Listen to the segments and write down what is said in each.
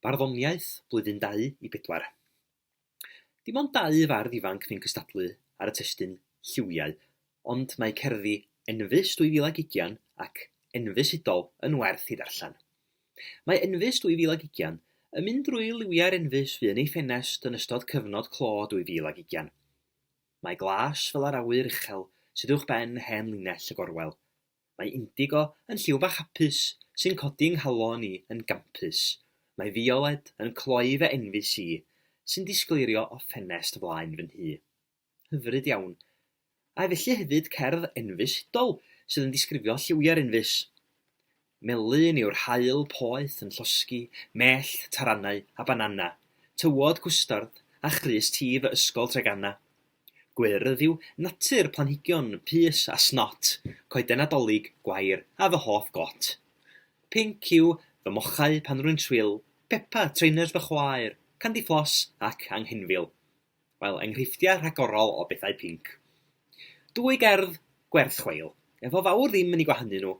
Barddoniaeth blwyddyn dau i bedwar. Dim ond dau fardd ifanc fu'n cystadlu ar y testun lliwiau, ond mae cerddi Enfys 2020 ac Enfys Hudol yn werth ei ddarllen. Mae Enfys 2020 yn mynd drwy liwiau'r Enfys fu'n ei ffenest yn ystod cyfnod clo 2020. Mae glas fel yr awyr uchel sydd uwch ben hen linell y gorwel. Mae indigo yn lliw bach hapus sy'n codi yng nghalon i yn gampus. Mae fiolet yn cloi fy enfys i, sy'n disgleirio o ffenest flaen fy nhŷ. Hyfryd iawn. A felly hefyd cerdd enfys hudol sydd yn disgrifio lliwiau'r enfys. Melyn yw'r haul poeth yn llosgi mellt, taranau a banana, tywod cwstard a chrys tif y Ysgol Treganna. Gwyrdd yw natur planhigion pys a snot, coeden Nadolig, gwair a fy hoff got. Pinc yw fy mochau pan rwy'n swil, pepa, trainers fy chwaer, candy floss ac anghenfil. Wel, enghreifftiau rhagorol o bethau pinc. Dwy gerdd gwerth chweil, efo fawr ddim yn ei gwahanu nhw,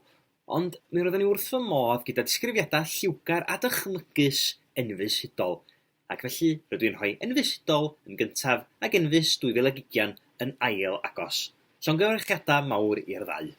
ond mi roeddwn i wrth fy modd gyda disgrifiadau lliwgar a dychmygus enfys hudol, ac felly rydw i'n rhoi enfys hudol yn gyntaf ac enfys 2020 yn ail agos. Llongyfarchiadau mawr i'r ddau.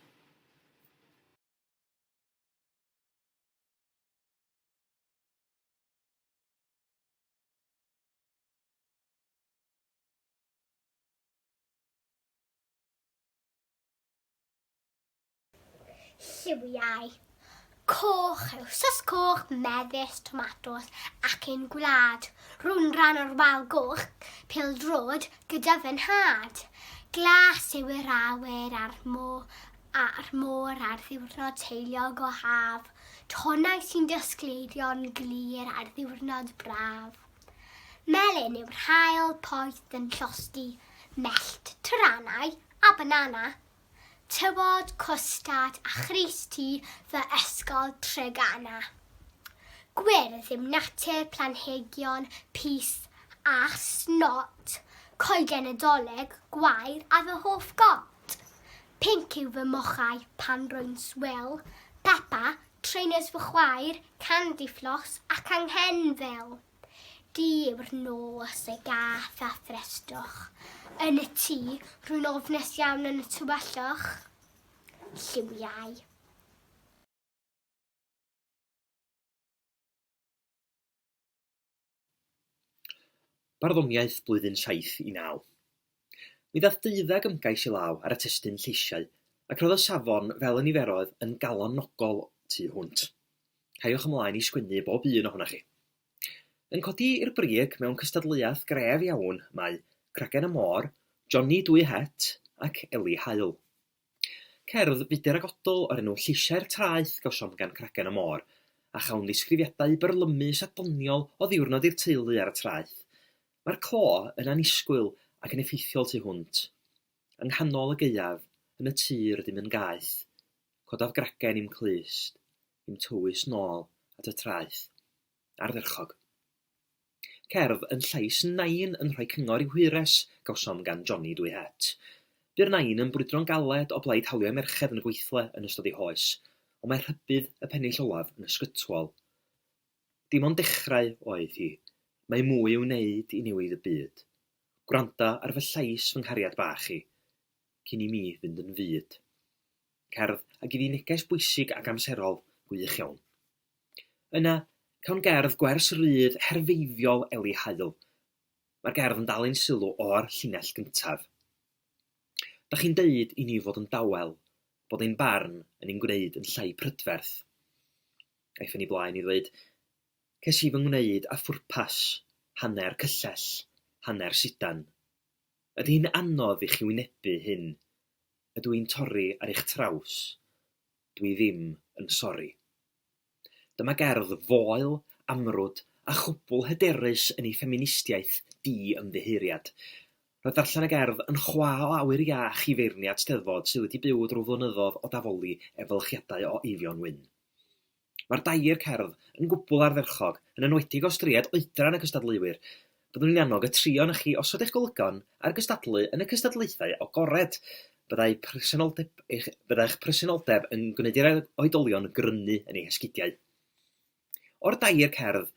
lliwiau coch, sos coch, mefus, tomatos ac un gwlad. Rwy'n rhan o'r wal goch, pil drod, gyda fy nhad. Glas yw yr awyr a'r môr, a'r môr ar ddiwrnod teiliog o haf. Tonnau sy'n dysgleidio'n glir ar ddiwrnod braf. Melyn yw'r haul poeth yn llosgi mellt trannau a banana. Tywod, cwstard a chrys ti fy ysgol Treganna. Gwyrdd yw natur planhigion pys a snot, coeden Nadolig gwair a fy hoff got. Pinc yw fy mochau pan rwy'n swil, pepa, Trainers fy chwaer, Candy Floss ac Anghen fel. Du yw'r nos ei gath a threstoch. Yn y tŷ, rwy'n ofnus iawn yn y tywelloch. Lliwiau. Barddoniaeth blwyddyn saith i naw. Mi ddaeth deuddag ymgais i law ar y testun lleisiau, ac roedd y safon fel y niferoedd yn galonogol tu hwnt. Caiwch ymlaen i sgwennu bob un ohonoch chi. Yn codi i'r brig mewn cystadleuaeth gref iawn mae Cragen y Môr, Johnny Dwy Het ac Eli Haul. Cerdd fudur ac odl o'r enw 'Lleisiau'r Traeth' gawsom gan Cragen y Môr, a chawn ddisgrifiadau byrlymus a doniol o ddiwrnod i'r teulu ar y traeth. Mae'r clo yn annisgwyl ac yn effeithiol tu hwnt. Yng nghanol y gaeaf, yn y tir, dim yn gaeth. Codaf gragen i'm clust, i'm tywys nôl at y traeth. ardderchog. Cerdd yn llais Nain yn rhoi cyngor i'w hwyres, gawsom gan Johnny dwy het. Bu'r Nain yn brwydro'n galed o blaid hawliau merched yn y gweithle yn ystod ei hoes, ond mae rhybudd y pennill olaf yn ysgytwol. Dim ond dechrau oedd hi. Mae mwy i'w wneud i newid y byd. Gwranda ar fy llais fy nghariad bach i, cyn i mi fynd yn fud. cerdd a gei di neges bwysig ac amserol gwych iawn. Yna, cawn gerdd gwers rydd herfeiddiol Eli Hael. Mae'r gerdd yn dal ein sylw o'r llinell gyntaf. Da chi'n deud i ni fod yn dawel, bod ein barn yn ein gwneud yn llai prydferth. Aeth yn ei blaen i ddweud, ces i fy ngwneud a phwrpas, hanner cyllell, hanner sidan. Ydy hi'n anodd i chi wynebu hyn? Ydw i'n torri ar eich traws? Dw i ddim yn sori. Dyma gerdd foel, amrwd a chwbl hyderus yn ei ffeministiaeth di-ymddiheuriad. Roedd darllen y gerdd yn chwa o awyr iach i feirniad Steddfod sydd wedi byw drwy flynyddoedd o dafoli efelychiadau o Eifion Wyn. Mae'r dair cerdd yn gwbl ardderchog, yn enwedig os dried oedran y cystadleuwyr. Byddwn i'n annog y tri ohonoch chi osod eich golygon ar gystadlu yn y cystadlaethau agored. Byddai presenoldeb eich, byddai'ch presenoldeb yn gwneud i'r oedolion grynu yn eu hesgidiau. O'r dair cerdd,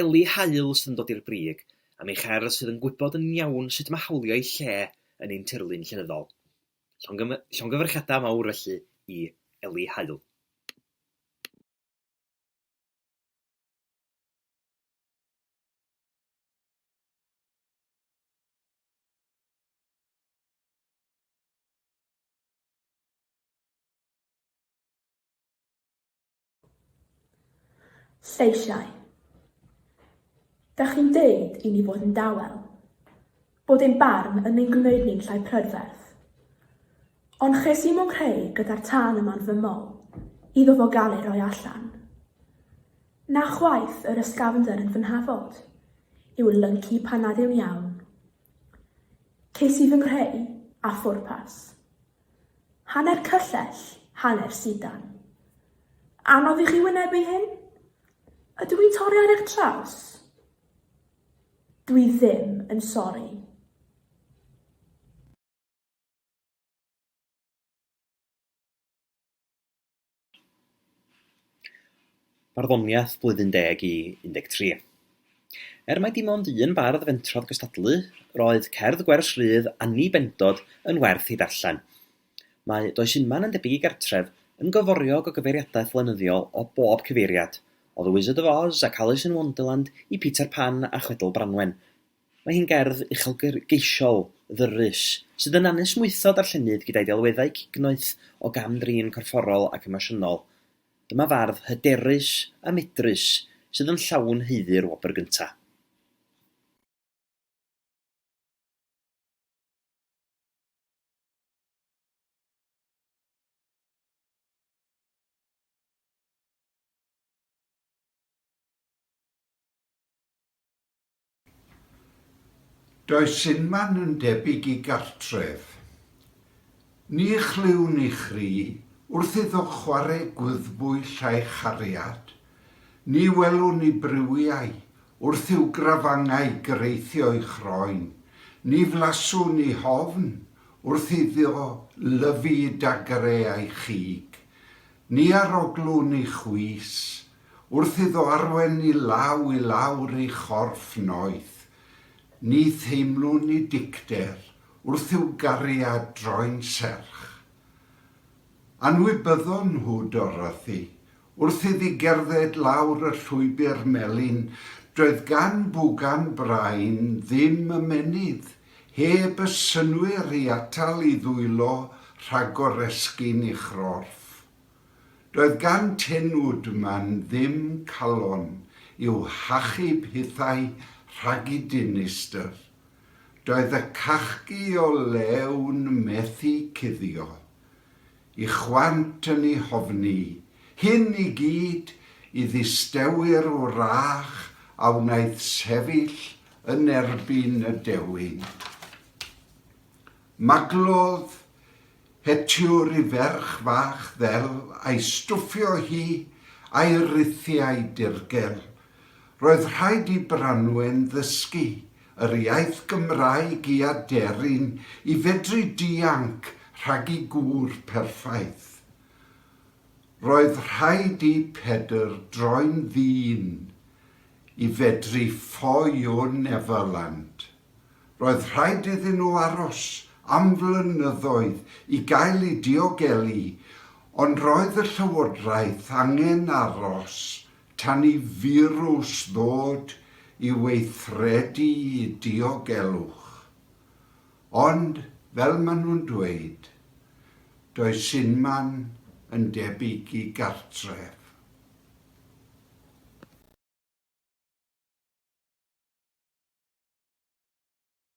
Ellie Hael sydd yn dod i'r brig, am ei cherdd sydd yn gwybod yn iawn sut mae hawlio ei lle yn ein tirlun llenyddol. Llongyfarchiadau mawr felly i Ellie Hael. Lleisiau. Dach chi'n deud i ni fod yn dawel. bod ein barn yn ein gwneud ni'n llai prydferth. Ond ches i mo creu gyda'r tân yma'n fy mol, iddo fo gael ei roi allan. Na chwaith yr ysgafnder yn fy nhafod, yw'r lynci pan nad yw'n iawn. Ces i fy nghreu, a phwrpas. Hanner cyllell, hanner sidan. Anodd i chi wynebu hyn? Ydw i'n torri ar eich traws? Dwi ddim yn sori. Barddoniaeth Blwyddyn Deg i 13. Er mai dim ond un bardd fentrodd gystadlu, roedd cerdd gwers Rhydd Anni Bendod yn werth ei darllen. Mae Does Inman yn debyg i gartref yn gyforiog o gyfeiriadaeth lenyddiol o bob cyfeiriad, o The Wizard of Oz ac Alice in Wonderland i Peter Pan a Chwedl Branwen. Mae hi'n gerdd uchelgeisiol, ddyrus, sydd yn anesmwytho darllenydd gyda'i delweddau cignoeth o gam-drin corfforol ac emosiynol. Dyma fardd hyderus a medrus sydd yn llawn haeddu'r wobr gyntaf. Does unman yn debyg i gartref. Ni chlywn i chri wrth iddo chware gwyddbwyll a'i chariad Ni welwn ni briwiau wrth i'w grafangau greithio i chroen, ni flaswn ni hofn wrth iddo lyfu dagre a'i chig, ni aroglwn ni chwys wrth iddo arwen ni law i lawr ei chorff noeth, ni theimlwn ni dicter wrth i'w gariad droi'n serch. Anwybyddon nhw dorrath i, Wrth iddi gerdded lawr y llwybr melyn, doedd gan Bwgan Brain ddim ymennydd, heb y synnwyr i atal i ddwylo rhag goresgyn ei chorff. Doedd gan Tin Woodman ddim calon i'w hachub hithau rhag i dinistr. Doedd y cachgi o Lewn methu cuddio. Y chwant yn ei hofni. Hyn i gyd i ddisteuwyr wrach a wnaeth sefyll yn erbyn y dewin. Maglodd Hetiwr i ferch fach ddel a'i stwffio hi a'i rithiau dirgel. Roedd rhaid i Branwen ddysgu yr iaith Gymraeg i aderyn i fedru dianc rhag i gŵr perffaith. Roedd rhaid i Pedr droi'n ddyn i fedru ffoio Neverland. Roedd rhaid iddyn nhw aros am flynyddoedd i gael ei diogelu ond roedd y llywodraeth angen aros Tan i firws ddod i weithredu i diogelwch. Ond, fel maen nhw'n dweud, does unman yn debyg i gartref.